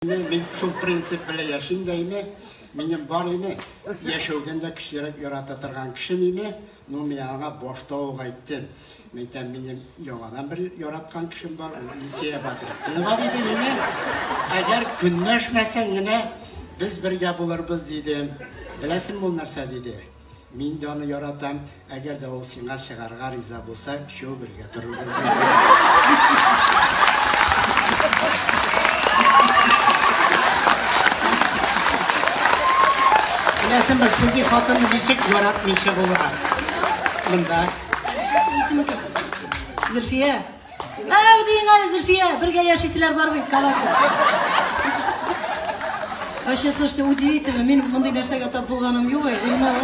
Мин шул принцип белән яшим дә име, минем бар име, яшәүдән дә көчлерәк ярата торган кешем име, ну мин аңа башта ук әйттем. Мәйтәм, минем яңадан бер яраткан кешем бар, ул Илсия Бадрәтдинова диде миңа. Әгәр көнләшмәсәң генә без бергә булырбыз диде. Беләсеңме ул нәрсә диде? Мин дә аны яратам. Әгәр дә ул сиңа чыгарга риза булса, өчәү бергә торырбыз. Беләсең бер шундый хатын ничек яратмыйча булырга. Монда. Зөлфия, Мәу дигән әле Зульфия, бергә яшисезләр бармый, кабат. Вообще, слушайте, удивительно, мин мондый нәрсәгә тап булганым юк, Ильмар.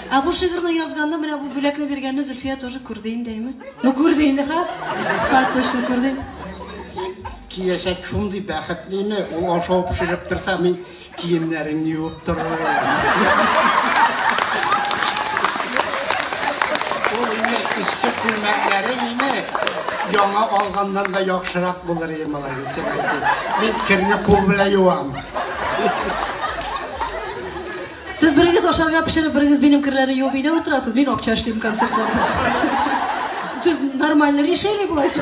Ә бу шигырьне язганда менә бу бүләкне биргәнне Зульфия тоже күрде инде, әйме? Ну күрде инде, ха? Ха, точно күрде. Киләчәк шундый бәхетлеме, ул ашау пешереп торса, мин Киемнәрен юып торырга. Ул инде эчке күлмәкләре име? Яңа алганнан да яхшырак булыр иде малай, дисем әйтеп. Мин керне кул белән юам. Сез берегез ашарга пешереп, берегез минем керләрне юып өйдә утырасыз, мин акча эшлим концертларда. Сез нормально решили буласыз.